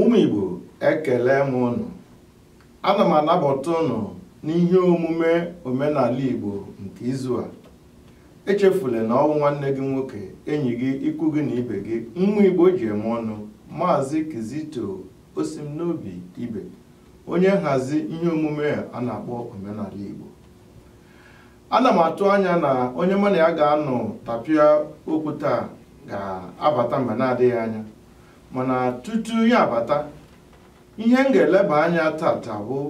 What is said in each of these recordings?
ụmụ Igbo ekele m ụnụ ana m anabata ụnụ n'ihe omume omenala Igbo nke izu a echefula na ọ wụ nwanne gị nwoke enyi gị ikwu gị na ibe gị nwa Igbo ji eme ọnụ maazị Kizito Osimnobi Ibe onye nhazi ihe omume a na-akpọ omenala Igbo ana m atụ anya na onye mụ na ya ga-anọ tapịa okwu taa ga-abata mgbe na-adịghị anya mana tutu ya abata ihe m ga-eleba anya tata bụ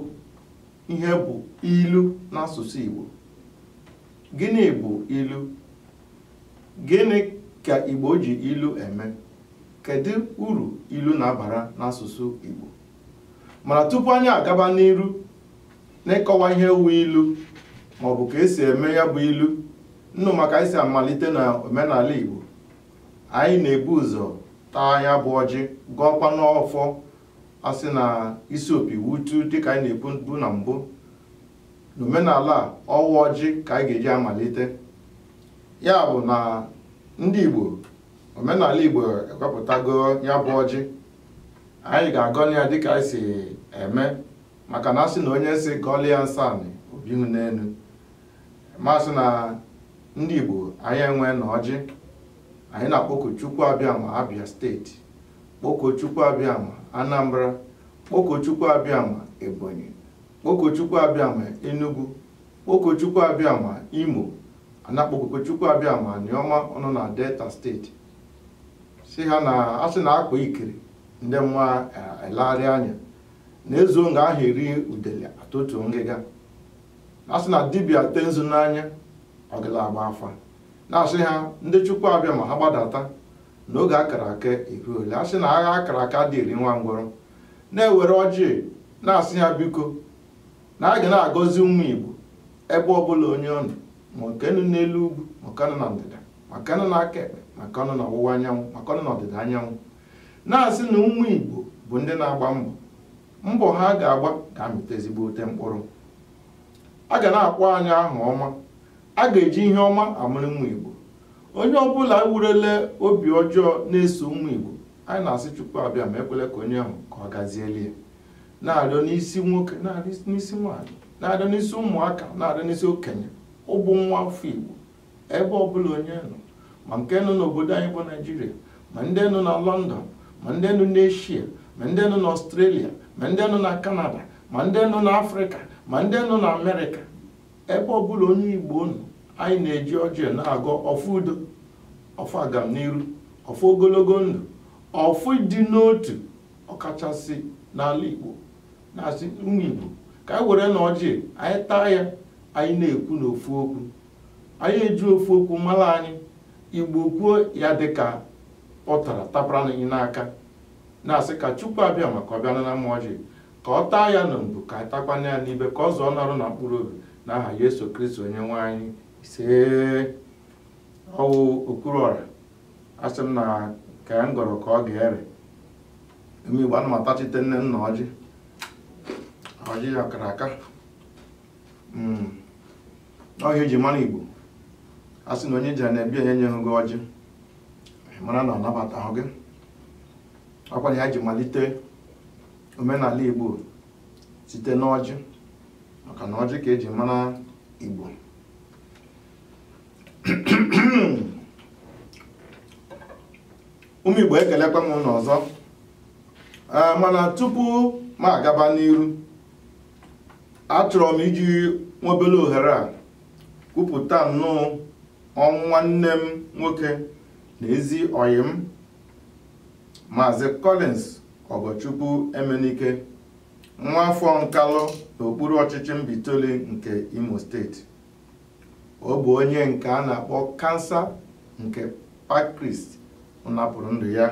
ihe bụ ilu n'asụsụ Igbo gịnị bụ ilu gịnị ka Igbo ji ilu eme kedu uru ilu na-abara n'asụsụ Igbo mana tupu anyị agaba n'iru n'ịkọwa ihe wu ilu maọbụ ka e si eme ya bụ ilu ụnụ ma ka anyị si amalite na omenala Igbo anyị na-ebu ụzọ taa ya bụ ọjị gọọkwanụ ọfọ a sị na isi opi wutu dịka anyị na-ekwubu na mbụ n'omenala a ọ wụ ọjị ka anyị ga-eji amalite ya bụ na ndị Igbo omenala Igbo ewepụtago ya bụ ọjị anyị ga-agọli ya dịka anyị si eme maka na a sị na onye si gọli ya nsanị obihụ n'elu ma sị na ndị Igbo anyị enwena ọjị anyị na-akpọku Chukwu Abịama Abịa steeti kpọku Chukwu Abịama Anambra kpọku Chukwu Abịama Ebonyi kpọku Chukwu Abịama Enugu kpọku Chukwu Abịama Imo a na-akpọkukwa Chukwu Abịama Aniọma ọ nọ na Delta steeti sị ha na a sị na akpa ikiri ndị mma elegharịa anya na e zuo nga a ha eri udele a tọtuo ngịga a sị na dibịa tee nzu n'anya ọ gala agba afa na-asị ha ndị chukwu abịama ha gbadata na oge a kara aka eruole a sị na agha a kara aka adị eri nwa ngwọrọ na-ewere ọjị na-asị ha biko na a ga na-agọzi ụmụ igbo ebe ọbụla onye ọ nọ ma nke nọ n'elu ugwu ma nke nọ na ndịda ma nke nọ n'aka ekpe ma nke nọ n'ọwụwa anyanwụ ma nke nọ n'ọdịda anyanwụ na-asị na ụmụ igbo bụ ndị na-agba mbọ mbọ ha ga-agba ga-amịta ezigbote mkpụrụ a ga na-akpọ anyị aha ọma a ga-eji ihe ọma amara ụmụ Igbo onye ọbụla wurule obi ọjọọ na-eso ụmụ Igbo anyị na-asị Chukwu Abịama ekwele ka onye ahụ ka ọ gazieli ya na-arịọ n'isi nwoke na-arịọ n'isi nwaanyị na-arịọ n'isi ụmụaka na-arịọ n'isi okenye ọ bụ nwa afọ Igbo ebe ọbụla onye nọ ma nke nọ n'obodo anyị bụ naijiria ma ndị nọ na lọndọn ma ndị nọ n'eshia ma ndị nọ n'ọstrelia ma ndị nọ na kanada ma ndị nọ n'afrịka ma ndị nọ na amerịka ebe ọbụla onye igbo nọ anyị na-eji ọjị na-agọ ọfọ udo ọfọ agamniru ọfọ ogologo ndụ ọfọ ịdị n'otu ọkachasị n'ala igbo na-asị ụmụ igbo ka anyị werenụ ọjị anyị taa ya anyị na-ekwu n'ofu okwu anyị eji ofu okwu mara anyị igbo kwuo ya dịka ụtara tapara anyị n'aka na-asị ka chukwu abịama ka ọ bịa nara m ọjị ka ọ taa ya na mbụ ka a takwanụ ya n'ibe ka ọ zụọ n'arụ na mkpụrụ obi na aha yesu kristi onye nwe anyị ise ọ wụ okwuru ọra asị m na ka anyị gọrọ ka ọ ga-ere ụmụ igbo ana m atachite nne nna ọjị ọjị ya kara aka Hmm. ọ ihe eji mara igbo a sị na onye i jee na be ya onye enyeghị gị ọjị mara na ọ nabatahụ gị ọkwa na ya ji malite omenala igbo site n'ọjị maka na ọjị ka eji mara igbo ụmụ igbo ekelekwa m unu ọzọ ah, mana tupu m agaba n'iru achọrọ m iji nwobele ohere a kwupụta nnọọ ọnwụ nwanne m nwoke na ezi ọyị m maazị Collins Ọgọchukwu Emenike nwa afọ Nkalụ n'okpuru ọchịchị Mbaitoli nke Imo steeti ọ bụ ọya nke a na-akpọ kansa nke pancreas napụrụ ndụ ya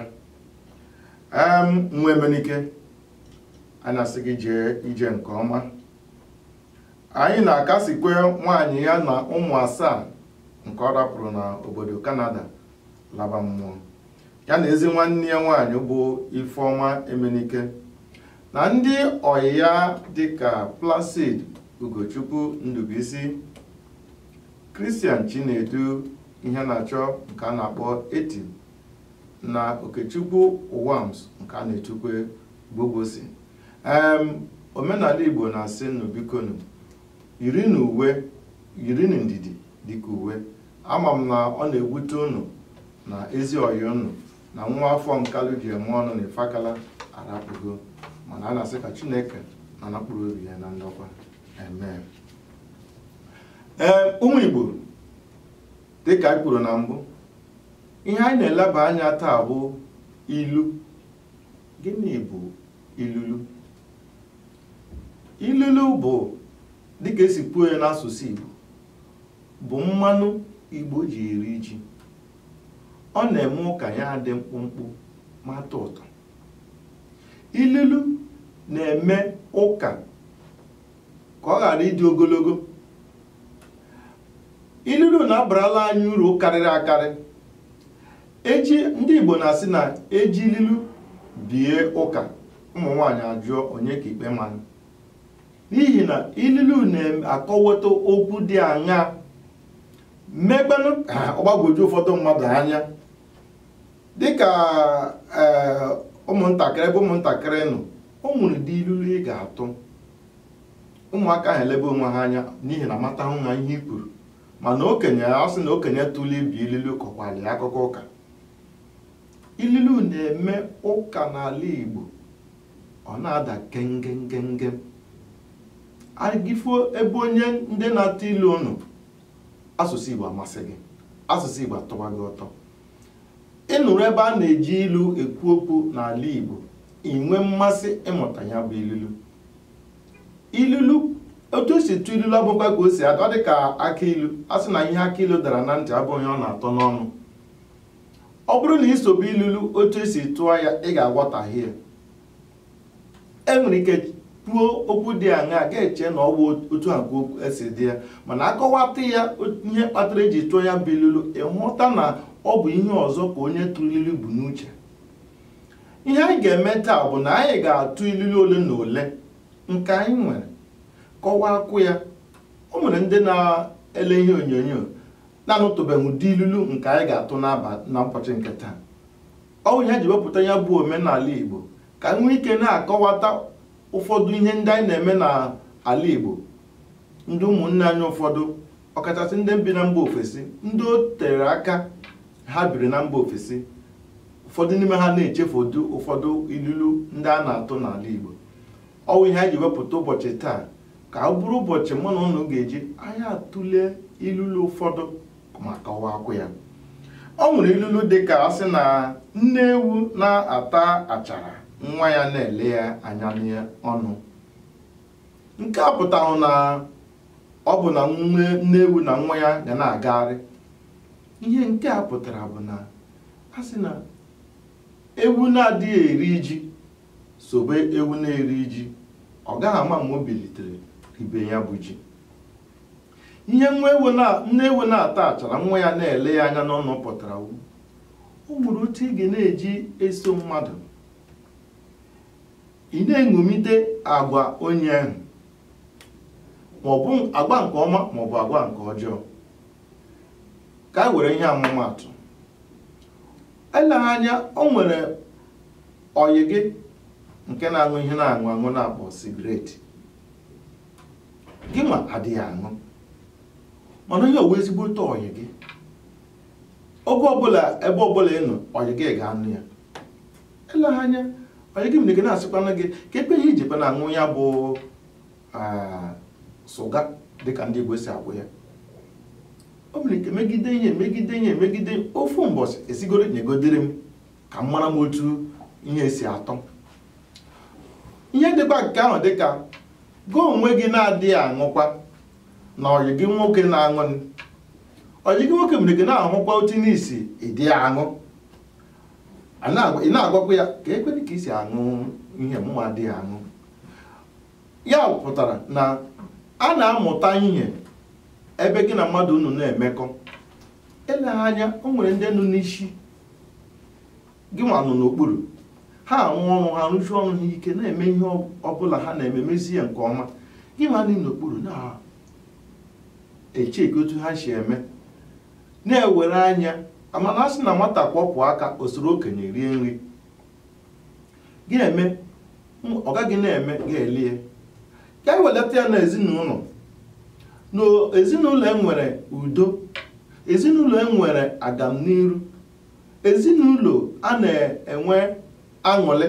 nwa Emenike a na-asị gị jee ije nke ọma anyị na-akasikwe nwaanyị ya na ụmụ asaa nke ọ rapụrụ na obodo Kanada laba mmụọ ya na ezi nwanne ya nwaanyị bụ Ifeọma Emenike na ndị ọyị ya dịka Placid Ugochukwu Ndubuisi Christian Chinedu Iheanachọ nke a na-akpọ Eti na Okechukwu Uwams nke a na-etukwe Gbogosi em omenala Igbo na-asị unu bikonu yirinụ uwe yirinụ ndidi dịka uwe ama m na ọ na-ewute unu na ezi ọyị unu na nwa afọ Nkalụ ji eme ọnụ na Ifakala arapụgo mana a na-asị ka Chineke nara mkpụrụ obi ya na ndokwa amen ee ụmụ Igbo dịka anyị kwuru na mbụ ihe anyị na-eleba anya taa bụ ilu gịnị bụ ilulu ilulu bụ dịka esi kwuo ya n'asụsụ Igbo bụ mmanụ Igbo ji eri ji ọ na-eme ụka ya dị mkpụmkpụ ma tọ ụtọ ilulu na-eme ụka ka ọ ghara ịdị ogologo ilulu na-abarala anyị uru karịrị akarị eji ndị Igbo na-asị na eji ililu bie ụka ụmụ nwaanyị ajụọ onye ka ikpe manụ n'ihi na ililu na-akọwata okwu dị anya mekwanụ ka ọ gbagwoju ụfọdụ mmadụ anya dịka ee ụmụntakịrị ebe ụmụntakịrị nọ o nwere ụdị ilulu ị ga-atụ ụmụaka ahụ elebe onwe ha anya n'ihi na amatahụ ha ihe i kwuru mana okenye a sị na okenye tụlụ ibi ililu kọkwara ya akụkọ ụka ililu na-eme ụka n'ala Igbo ọ na-ada gengem gengem agị fụọ ebe onye ndị na-atụ ilu nọ asụsụ Igbo amasị gị asụsụ Igbo atọwa gị ụtọ ị nụrụ ebe a na-eji ilu ekwu okwu n'ala Igbo i nwee mmasị ịmụta ya bụ ililu ilulu otu esi tụọ ilulu abụkwa ka o si atọ dị ka akị ilu a sị na ihe akị ilu dara na ntị abụhụ ihe ọ na-atọ n'ọnụ ọ bụrụ na i sobe ilulu otu esi tụọ ya ị ga-aghọtahie e nwere ike kwuo okwu dị aṅaa a ga-eche na ọ bụ otu a ka esi dị ya mana a kọwata ya ihe kpatara eji tụọ ya bụ ilulu ị hụta na ọ bụ ihe ọzọ ka onye tụrụ ilulu bu n'uche ihe anyị ga-eme taa bụ na anyị ga-atụ ilulu ole na ole nke anyị nwere kọwakwụ ya o nwere ndị na-ele ihe onyonyo na-anụtụbeghị ụdị ilulu nke anyị ga-atụ n'aba- na ụbọchị nke taa ọ bụ ihe anyị ji wepụta ya bụ omenala igbo ka anyị nwee ike na-akọwata ụfọdụ ihe ndị anyị na-eme n'ala igbo ndị ụmụnne anyị ụfọdụ ọkachasị ndị bi na mba ofesi ndị o tere aka ha biri na mba ofesi ụfọdụ n'ime ha na-echefu ụdị ụfọdụ ilulu ndị a na-atụ n'ala Igbo ọ wụ ihe anyị ji wepụta ụbọchị taa ka ọ bụrụ ụbọchị mụ na ụnụ ga-eji anyị atụle ilulu ụfọdụ ma kọwakwụ ya o nwere ilulu dị ka a sị na nne ewu na-ata achara nwa ya na-ele ya anya n'ọnụ nke a pụtahụ na ọ bụ na nne ewu na nwa ya ga na-agagharị ihe nke a pụtara bụ na a sị na ewu na-adịghị eri ji sobe ewu na-eri ji ọ gaghị ama ma o bilite ribe ya bụ ji ihe nne ewu na-ata achara nwa ya na-ele ya anya n'ọnụ pụtara o nwere otu ị ga na-eji eso mmadụ ị na-eṅomite agwa onye ahụ ma ọ bụ agwa nke ọma ma ọ bụ agwa nke ọjọọ ka anyị were ihe ọmụmaatụ eleghị anya o nwere ọyị gị nke na-aṅụ ihe a na-aṅụ aṅụ a na-akpọ cigarette gị nwa adịghị aṅụ mana onye ọ wụ ezigbote ọyị gị oge ọbụla ebe ọbụla ị nọ ọyị gị ga-aṅụ ya eleghị anya ọyị gị nwere ike na-asịkwana gị kee kee ihe i jikwana aṅụ ya bụ ah, sịga dịka ndị Igbo si agụ ya o nwere ike megide ya megide ya megide ofu mbọsị ị sịgoro nyegodere m ka m mara m otu ihe si atọ ihe dịkwa nke ahụ dịka gị onwe gị na-adịghị aṅụkwa na ọyị gị nwoke na-aṅụ ọyị gị nwoke nwere ike na-ahụkwa otu ị na-esi adịghị aṅụ A na-agwa- ị na-agwakwa ya keekwedị ka i si aṅụ ihe mụ nwa adịghị aṅụ ya pụtara na a na-amụta ihe ebe gị na mmadụ unu na-emekọ eleghị anya o nwere ndị nọ n'isi gị nwa nọ n'okpuru ha arụ ọrụ ha rụsie ọrụ ha ike na-eme ihe ọ- ọbụla ha na-eme mezie ya nke ọma gị nwa nọ n'okpuru na-echeki otu ha si eme na-ewere anya a ma na a sị na nwata kwọpụ aka o soro okenye rie nri ga-eme ọ gaghị na-eme ga-elie ka e welata ya na ezinụlọ na ezinụlọ e nwere udo ezinụlọ e nwere agamniru ezinụlọ a na-enwe aṅụrị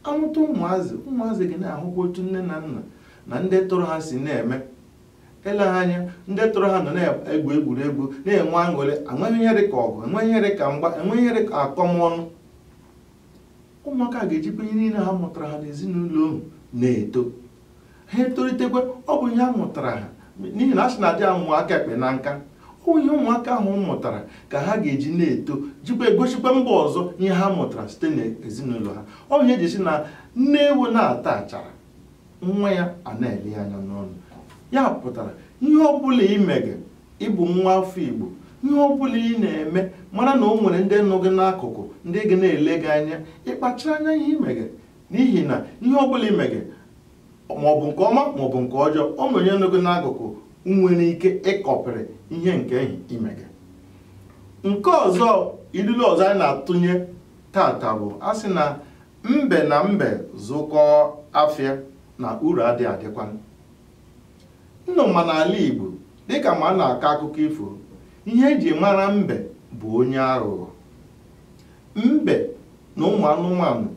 a mụta ụmụazị ụmụazị ga na-ahụkwa otu nne na nna na ndị tọrọ ha si na-eme eleghị anya ndị tọrọ ha nọ na-egwu egwuregwu na-enwe aṅụrị enweghị ihe dị ka ọgụ enweghị ihe dị ka mgba enweghị ihe dị ka akọmọnụ ụmụaka ga-ejikwa ihe niile ha mụtara ha n'ezinụlọ ahụ na-eto ha etolitekwa ọ bụrụ ihe ha mụtara ha n'ihi na a sị na adịghị amụ aka ekpe na nka ọ bụ ihe ụmụaka ahụ mụtara ka ha ga-eji na-eto jikwa egosikwa mba ọzọ ihe ha mụtara site n'ezinụlọ ha ọ bụ ihe e ji sị na nne ewu na-ata achara nwa ya a na-ele ya anya n'ọnụ ya pụtara ihe ọ bụla ị mege ị bụ nwa afọ igbo ihe ọ bụla ị na-eme mara na o nwere ndị nọ gị n'akụkụ ndị ga na-ele gị anya ị kpachara anya ihe ị mege n'ihi na ihe ọ bụla ị mege maọbụ nke ọma maọbụ nke ọjọọ o nwere onye nọ gị n'akụkụ nwere ike ịkọpịrị ihe nke ehi ị mege nke ọzọ ilulu ọzọ anyị na-atụnye taata bụ a sị na mbe na mbe zụkọọ afịa na uru adị adịkwa unu ma n'ala Igbo dịka ma a na-akọ akụkọ ifo ihe e ji mara mbe bụ onye aghụghọ mbe na ụmụ anụmanụ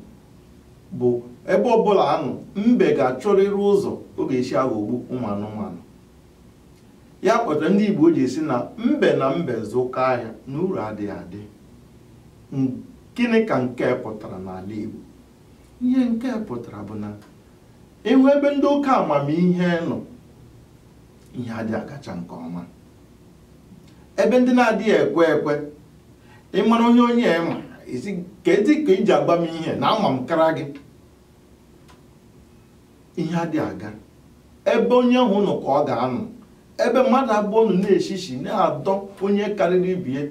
bụ ebe ọbụla a nọ mbe ga-achọrịrị ụzọ ọ ga-esi aghọgbu ụmụ anụmanụ ya kpatara ndị Igbo ji esi na mbe na mbe zụkọ ahịa na uru adịghị adị gịnị ka nke a pụtara n'ala Igbo ihe nke a pụtara bụ na ị hụ ebe ndị oke amamihe nọ ihe adị agacha nke ọma ebe ndị na-adịghị ekwe ekwe ị mara onye onye ma ezi ka edi ka i ji agba m ihe na ama m kara gị ihe adị aga ebe onye ahụ nọ ka ọ ga-anọ ebe mmadụ abụọ nọ na-eshishi na-adọ onye karịrị ibie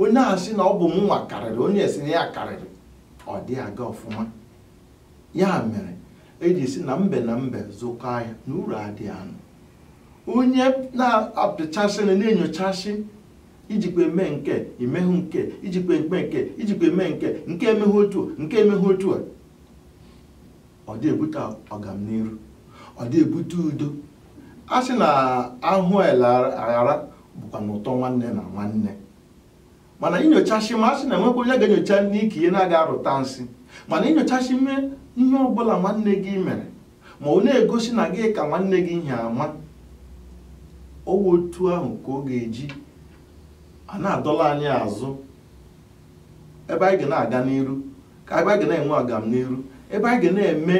onye a sị na ọ bụ mụnwa karịrị onye a sị na ya karịrị ọ dị aga ọfụma ya mere e ji sị na mbe na mbe zụkọ ahịa na uru adị anọ onye na-apịchasị na na-enyochasị i jikwa eme nke a i mehụ nke a i jikwa eme nke a i jikwa eme nke a nke a emehụ otu a, nke a emehụ otu a ọ dị ebute ọganiru ọ dị ebute udo a sị na a hụ e leghara bụkwanụ ụtọ nwanne na nwanne mana i nyochasị ma a sị na e nwekwa onye ga-enyocha n'ike ihe na-aga arụta nsị mana i nyochasịme ihe ọbụla nwanne gị mere ma wee na-egosi na gị ka nwanne gị ihe ama ọ wụ otu ahụ ka ọ ga-eji a na-adọla anyị azụ ebe anyị ga na-aga n'iru ka ebe anyị ga na-enwe agam n'iru ebe anyị ga na-eme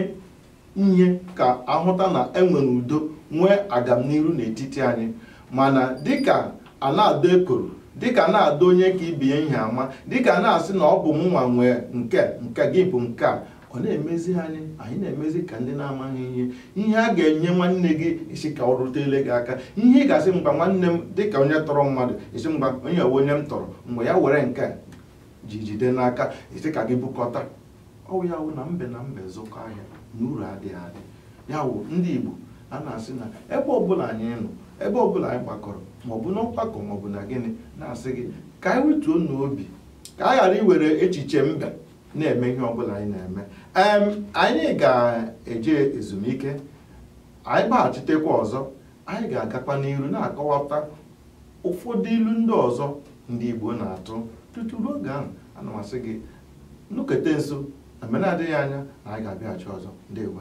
ihe ka a hụta na e nwere udo nwee agam n'iru n'etiti anyị mana dịka a na-adọ ekworo dịka a na-adọ onye ka ibe ya ihe ama dịka a na-asị na ọ bụ mụnwa nwee nke a nke gị bụ nke a ọ na-emezi anyị anyị na-emezi ka ndị na-amaghị ihe ihe a ga-enye nwanne gị ị sị ka o rutele gị aka ihe ị ga-asị mba nwanne m dị ka onye tọrọ mmadụ ị sị mba onye we onye m tọrọ mgbe ya were nke ji jide n'aka ị sị ka gị bukọta ọ wụ ya wụ na mbe na mbe zụkọ ahịa na uru adịghị adị ya wụ ndị Igbo a na-asị na ebe ọbụla anyị nọ ebe ọbụla anyị gbakọrọ maọbụ n'ọgbakọ maọbụ na gịnị na-asị gị ka anyị wetuonụ obi ka a ghara iwere echiche mbe na-eme ihe ọbụla anyị na-eme em anyị ga-eje ezumike anyị gbaghachitekwa ọzọ anyị ga-agakwa n'iru na-akọwata ụfọdụ ilu ndị ọzọ ndị Igbo na-atụ tutu ruo oge ahụ ana m asị gị nọkete nso na mgbe na-adịghị anya na anyị ga-abịaghachi ọzọ ndewo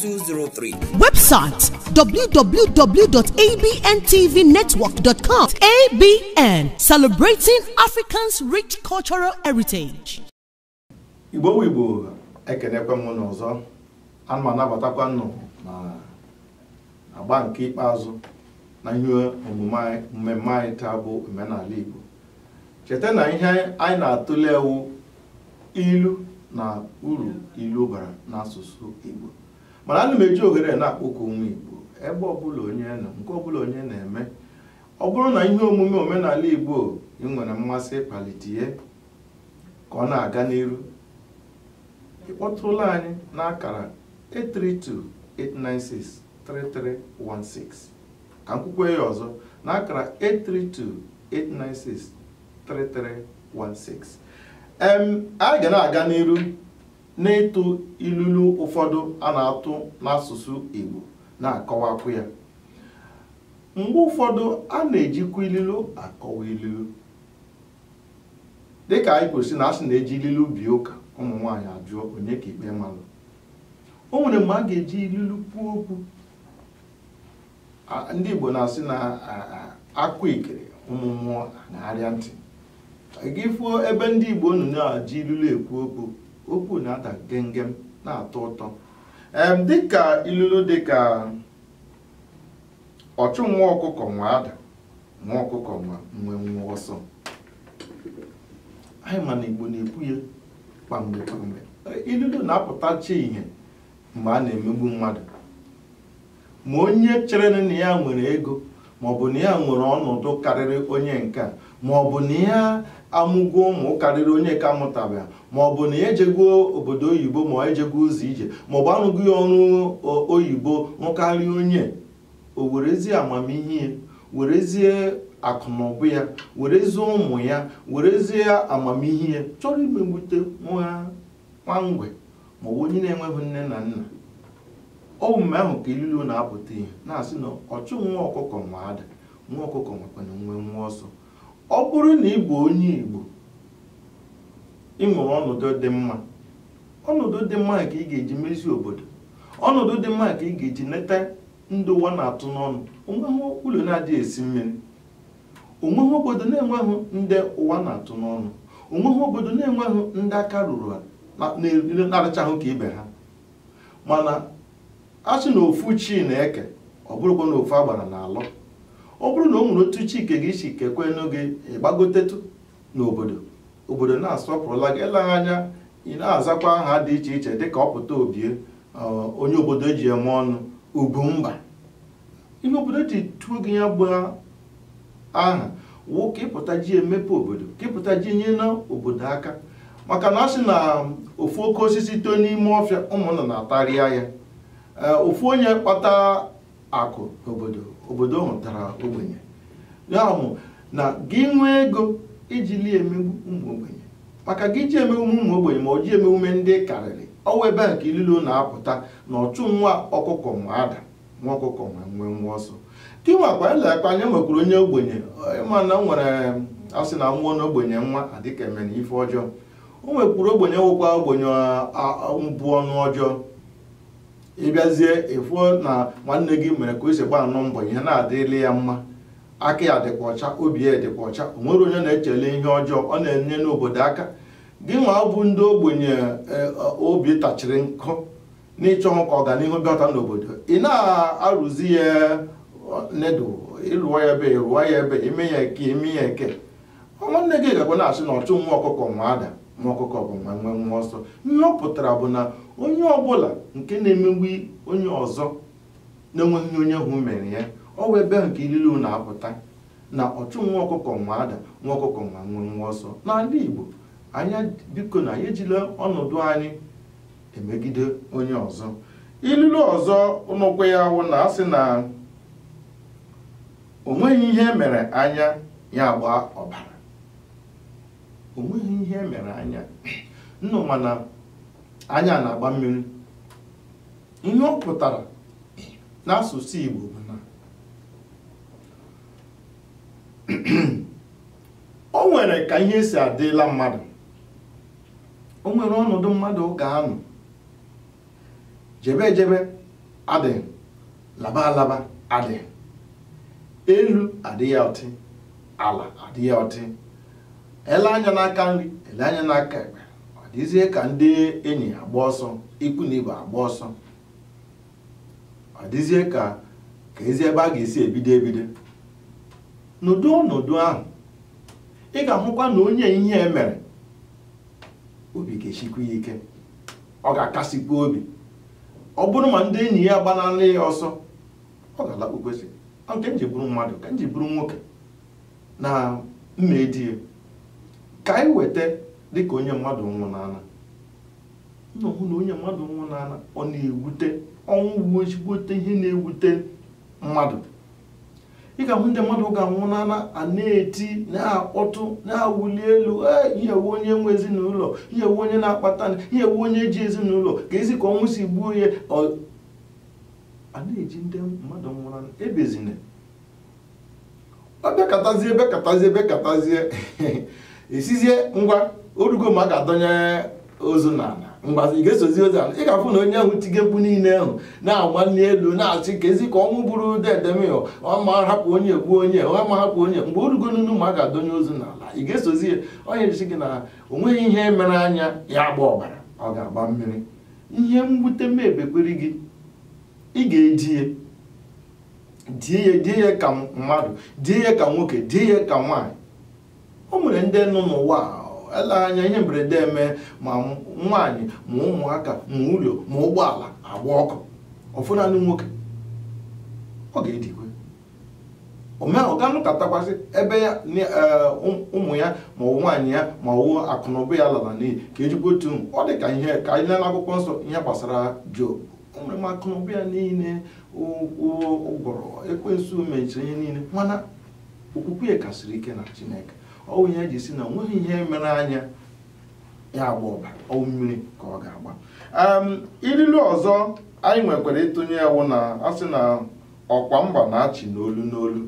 203. Website www.abntvnetwork.com. ABN, celebrating Africans' rich cultural heritage. Igbo Igbo ekenekwa m unu ọzọ ana m anabatakwa unu na agba nke ikpeazụ na ihe omume mmemme anyị taa bụ omenala Igbo cheta na ihe anyị na-atụle wụ ilu na uru ilu bara n'asụsụ Igbo mana ana m eji ohere na-akpọku ụmụ Igbo ebe ọbụla onye nọ nke ọbụla onye na-eme ọ bụrụ na ihe omume omenala Igbo ị nwere mmasị ịkpalite ya ka ọ na-aga n'iru ị kpọtụrụla anyị n'akara 832-896-3316 ka m kwukwe ya ọzọ n'akara 832 em anyị ga na-aga n'iru n'ịtụ ilulu ụfọdụ a na-atụ n'asụsụ Igbo na-akọwakwu ya mgbe ụfọdụ a na-ejikwa ililu akọwa ililu dịka anyị kwuru sị na a sị na e ji ililu bie ụka ụmụ nwaanyị ajụọ onye ka ikpe malụ o nwere mgbe a ga-eji ililu kwuo okwu A- ndị igbo na-asị na a- a- akwa ikiri ụmụ mmụọ na-arịa ntị gị fụọ ebe ndị igbo nọ na-eji ilulu ekwu okwu okwu na-ada gemgem na-atọ ụtọ em dịka ilulu dịka ọchụ nwa ọkụkọ nwe ada nwa ọkụkọ nwe nwe nwe ọsọ anyị ma na igbo na-ekwu ya kwamgbe kwamgbe ilulu na-apụtacha ihe mgbe a na-emegbu mmadụ ma onye chere na ya nwere ego ma ọ bụ na ya nwere ọnọdụ karịrị onye nke a ma ọ bụ na ya amụgo ụmụ karịrị onye ka mụtabeghị ma ọ bụ na ya ejego obodo oyibo ma ọ ejego ụzọ ije ma ọ bụ anụgo ya ọrụ oyibo nụkarịa onye o werezie amamihe ya werezie akụnụba ya werezie ụmụ ya werezie amamihe ya chọrọ imegbute nwa nwa mgbei ma ọ bụ onye na-enweghị nne na nna ọ bụ mgbe ahụ ka ilulu na-apụta ihe na-asị na ọchụ nwa ọkụkọ nwe ada nwa ọkụkọ nwekwanụ nwe nwe ọsọ ọ bụrụ na ị bụ onye Igbo ị nwere ọnọdụ dị mma ọnọdụ dị mma ka ị ga-eji mezi obodo ọnọdụ dị mma ka ị ga-eji neta ndị ụwa na-atụ n'ọnụ o nweghị ụlọ na-adịghị esi mmiri onweghị obodo na-enweghị ndị ụwa na-atụ n'ọnụ onweghị obodo na-enweghị ndị aka ruru ha na- na- na-arachaghị ka ibe ha mana a sị na ofu chi na-eke ọ bụrụkwa na ofu agbara na-alọ ọ bụrụ na o nwere otu chi nke gị si kekwenụ gị ị gbagotetụ n'obodo obodo na-asọpụrụla gị eleghị anya ị na-azakwa aha dị iche iche dịka ọpụta obie ọ, onye obodo ji eme ọnụ Ugwumba ihe obodo ji tụọ gị ya bụ aha wụ ka ị pụta ji emepe obodo ka ị pụta ji nyena obodo aka maka na a sị na ofu oke osisi too n'ime ọfịa ụmụnna na-atarịa ya Ee, ofu onye kpata akụ n'obodo obodo ahụ dara ogbenye ya bụ na gị nwee ego ị jile emegbu ụmụ ogbenye maka gị ji emegbu ụmụ ogbenye ma ọ ji emegbume ndị ị karịrị ọ wụ ebe a ka ilulu na-apụta na ọchụ nwa ọkụkọ nwe ada nwa ọkụkọ nwe nwenwe ọsọ gị nwakwa lee ka anyị nwekwuru onye ogbenye ịma na o nwere a sị na ọ wụ na ogbenye mma adịka e mere ife ọjọọ o nwekwuru ogbenye nwekwa ogbenye mbụ ọnụ ọjọọ ị bịazie ịfụ na nwanne gị mere ka o si gbaanụ mbọ ihe na-adịrịla ya mma aka ya dịkwa ọcha obi ya dịkwa ọcha o nwere onye na-echele ihe ọjọọ ọ na-enyena obodo aka gị nwa bụ ndị ogbenye obi tachiri nkụ na ị chọghị ka ọganihu bịata n'obodo ị na-arụzi ya nedo ịrụọ ya ebe ịrụọ ya ebe ime ya eke ime ya eke nwanne gị gakwa na-asị na ọchụ nwa ọkụkọ nwe ada nwa ọkụkọ nwe nwenwe ọsọ ihe ọ pụtara bụ na onye ọbụla nke na-emegbu onye ọzọ na-enweghị ihe onye ahụ mere ya ọ wụ ebe ahụ ka ilulu na-apụta na ọchụ nwa ọkụkọ nwe ada nwa ọkụkọ nwe nwenwe ọsọ n'ala Igbo anyị biko na anyị ejila ọnọdụ anyị emegide onye ọzọ ilulu ọzọ nọkwa ya wụ na a sị na onweghị ihe mere anya ya agba ọbara onweghị ihe mere anya nnọọ mana anya na-agba mmiri ihe ọ pụtara n'asụsụ Igbo bụ na o nwere ka ihe si adịla mmadụ o nwere ọnọdụ mmadụ ga-anọ jebe ejebe adịghị laba alaba adịghị elu adị ya ọtị ala adị ya ọtị ele anya n'aka nri ele anya n'aka ekpe ọ dịzie ka ndị enyi agba ọsọ ikwu na ibe agba ọsọ ọ dịzie ka keezi ebe a ga-esi ebido ebido n'ụdị ọnọdụ ahụ ị ga-ahụkwa na onye ihe mere obi ga-esikwu ya ike ọ ga-akasikwu obi ọ bụrụ ma ndị enyi ya agbanala ya ọsọ ọ ga-alakpukwesị ọ nke m ji bụrụ mmadụ ka m ji bụrụ nwoke na m ma edi ya ka anyị weta dịka onye mmadụ nwụnala unu hụ na onye mmadụ nwụnala ọ na-ewute ọnwụ bụ ezigbote ihe na-ewute mmadụ ị ga-ahụ ndị mmadụ ga-anwụnala a na-eti na-akpọtụ na-awụli elu ee ihe wu onye nwe ezinụlọ ihe wu onye na-akpata ihe wu onye ji ezinụlọ keezi ka ọnwụ si gbuo ya ọ- a na-eji ndị mmadụ nwụnala ebezina ọ bekatazie bekatazie bekatazie esizie ngwa o rugo ma a ga-adọnye ozu n'ala mgbazi ị ga-esozi ozu ala ị ga-afụ na onye ahụ tige mkpu niile ahụ na-agba n'elu na-achị keezi ka ọnwụ bụrụ dedemịọ ọ ma hapụ onye gbuo onye ọ ma hapụ onye mgbe o rugo n'unu ma a ga-adọnye ozu n'ala ị ga-esozi ya ọ ihe e ji si gị na o nweghị ihe mere anya ya agba ọbara ọ ga-agba mmiri ihe mwute mebekwere gị ị ga-edi ya die ya die ya ka mmadụ die ya ka nwoke die ya ka nwaanyị o nwere ndị nọ n'ụwa ele anya ihe mberede eme ma nwaanyị ma ụmụaka ma ụlọ ma ụgbọala agba ọkụ ọ fọ naanị nwoke ọ ga-edikwe ọ ga-anọkatakwa sị ebe ya e, ụmụ ya ma ọ nwaanyị ya ma ọ akụnụba ya lara n'iyi ka ejikwa otu ọ dị ka ihe ka anyị lee n'akwụkwọ nsọ ihe gbasara Job o nwere ma akụnụba ya niile ọ gwụrụ ekwensu mechiri ihe niile mana okwukwe ya kasiri ike na chineke ọ bụ ihe e ji si na onweghị ihe mere anya ya agba ọbara ọ wụ mmiri ka ọ ga-agba Em, ililu ọzọ anyị nwekwara ịtụnye wụ na a sị na ọkwa mba na-achị n'olu n'olu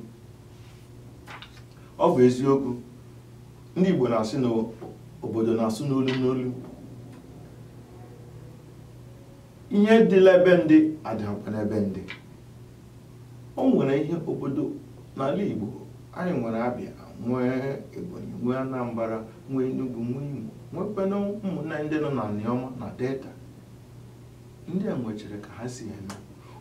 ọ bụ eziokwu ndị igbo na-asị na obodo na-asụ n'olu n'olu ihe dị la ebe ndị adịghịkwa n'ebe ndị o nwere ihe obodo n'ala Igbo anyị nwere Abịa nwee Ebonyi nwee Anambra nwee Enugu nwee Imo nwekwana ụmụnna ndị nọ n'Anioma na Delta ndị a nwechara ka ha si eme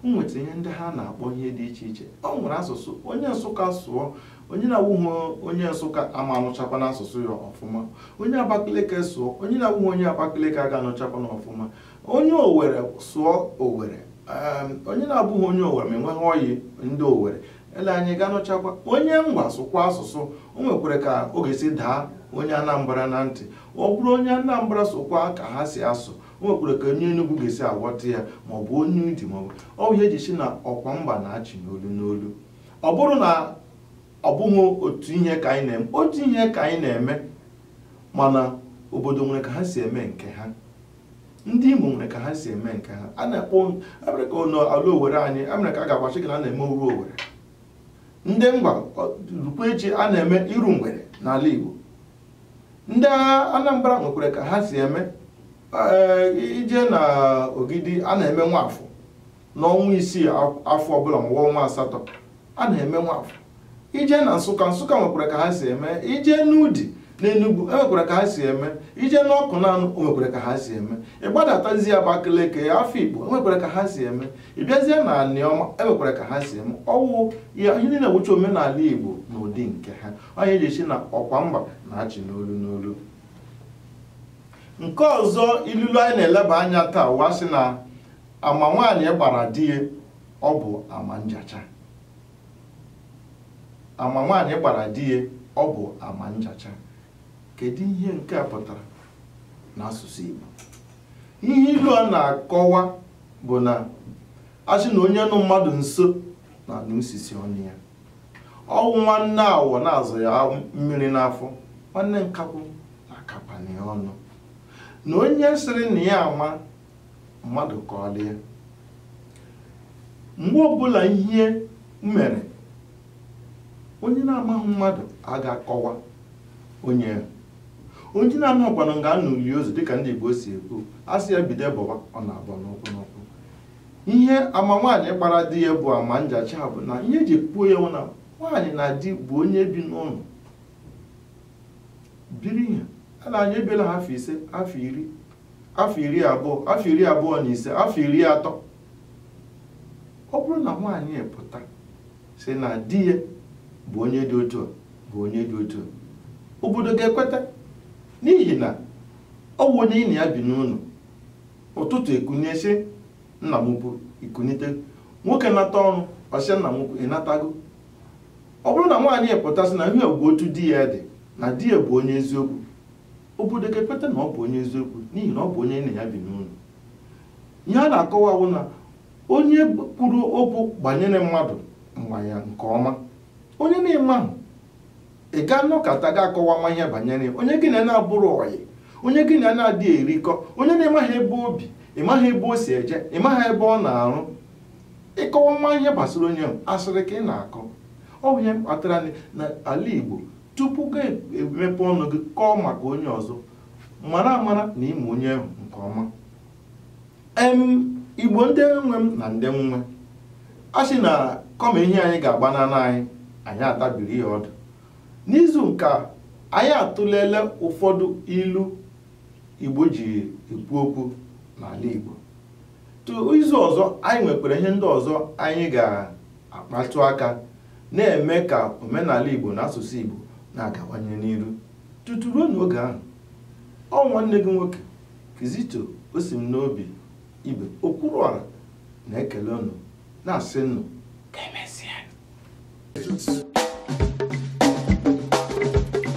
o nwecha ihe ndị ha na-akpọ ihe dị iche iche ọ nwere asụsụ onye nsụka sụọ onye na-awụghị onye nsụka ama anụchakwa n'asụsụ ya ọfụma onye abakaliki sụọ onye na-awụghị onye abakaliki aga anụchakwa na ọfụma onye owere sụọ owere um, onye na-abụghị onye owere ma enweghị ọyị ndị owere ele anya ọ ga-anụchakwa onye ngwa sụkwa asụsụ o nwekwara ka ọ ga-esi daa onye anambra na ntị ọ bụrụ onye anambra sụkwa ka ha si asụ o nwekwara ka onye enugwu ga-esi aghọta ya maọbụ onye udi maọbụ ọ bụ ihe eji si na ọkwa mba na-achị n'olu n'olu ọ bụrụ na ọ bụghị otu ihe ka anyị na-eme otu ihe ka anyị na-eme mana obodo nwere ka ha si eme nke ha ndị Imo nwere ka ha si eme nke ha a na-akpọ abịara ka ụlọ ala Owere anyị amere ka a ga-agbachi gị na a na-eme oru Owere ndị ngwa rukwa echi a na-eme iru mgbede n'ala Igbo ndị Anambra nwekwara ka ha si eme ije na Ogidi a na-eme nwafọ n'ọnwa isii afọ ọbụla ma ọnwa asatọ a na-eme nwafọ ije na nsụka nsụka nwekwara ka ha si eme ije n'udi n'enugwu enwekwara ka ha si eme ije n'ọkụnanọ nwekwara ka ha si eme ịgbadatazie abakaliki afikpo enwekwara ka ha si eme ịbịazie na anịọma enwekwara ka ha si eme ọwụ ya ihe niile wụcha omenala igbo n'ụdị nke ha ihe eji si na ọkwa mba na-achị n'olu n'olu nke ọzọ ilulu anyị na-eleba anya taa wa sị na ama nwaanyị gbara di ya ọ bụ ama njacha ama nwaanyị gbara di ya ọ bụ ama njacha kedu ihe nke a pụtara n'asụsụ Igbo ihe ilu a na-akọwa bụ na asị na onye nọ mmadụ nso na-anụ isisi ọnụ ya ọwụ nwanne awọ na-azụ ya mmiri n'afọ nwanne nkakwụ na-akapanye ọnụ na onye sịrị na ya ama mmadụ ka o lie ya mgbe ọbụla ihe mere onye na-amaghị mmadụ a ga-akọwa onye ya onye na-amaghịkwanụ nga a nọ lie ozu dịka ndị Igbo si ekwu a sị ya bido bọwa ọ na-abọ n'ụkwụ n'ụkwụ ihe ama nwaanyị gbara di ya bụ ama njacha bụ na ihe eji kwuo ya wụ na nwaanyị na di bụ onye bi n'ụlọ biri ihe ele anya ebiela ha afọ ise afọ iri afọ iri abụọ afọ iri abụọ na ise afọ iri atọ ọ bụrụ na nwaanyị pụta si na di ya bụ onye dị otu a bụ onye dị otu a obodo ga-ekweta n'ihi na ọ bụ onye na ya bi n'ụlọ ụtụtụ ekunie sị nna m ukwu ikunite nwoke nata ọrụ ọ sị nna m ukwu ịnatago ọ bụrụ na nwaanyị pụta sị na ihe a bụ otu di ya dị na di ya bụ onye eziokwu obodo ga-ekweta na ọ bụ onye eziokwu n'ihi na ọ bụ onye ya na ya bi n'ụlọ ihe a na-akọwa bụ na onye kwuru okwu banyere mmadụ ma ya nke ọma onye na ị mahụ ị ga-anọkata ga akọwama ihe banyere onye gị na ya na-abụrụ ọyị onye gị na ya na-adịghị erikọ onye na ị maghị ebe o bi ị maghị ebe o si eje ị maghị ebe ọ na-arụ ị kọwama ihe gbasara onye ahụ asịrị ka ị na-akọ ọ bụ ihe kpatara n'ala Igbo tupu ị ga-emepe ọnụ gị kọọ maka onye ọzọ mara amara na ị ma onye ahụ nke ọma em igbo ndị nwe m na ndị m nwe a sị na kama ehi anyị ga-agbanara anyị anyị atabiri ya ọdụ n'izu nke a anyị atụleela ụfọdụ ilu igbo ji ekwu okwu n'ala igbo izu ọzọ anyị nwekwara ihe ndị ọzọ anyị ga-akpatụ aka na-eme ka omenala Igbo na asụsụ Igbo na-agawanye n'iru tutu ruo n'oge ahụ ọ nwanne gị nwoke Kizito Osimnobi Ibe Okwuruọra na-ekele unu na-asị unu ka emesịa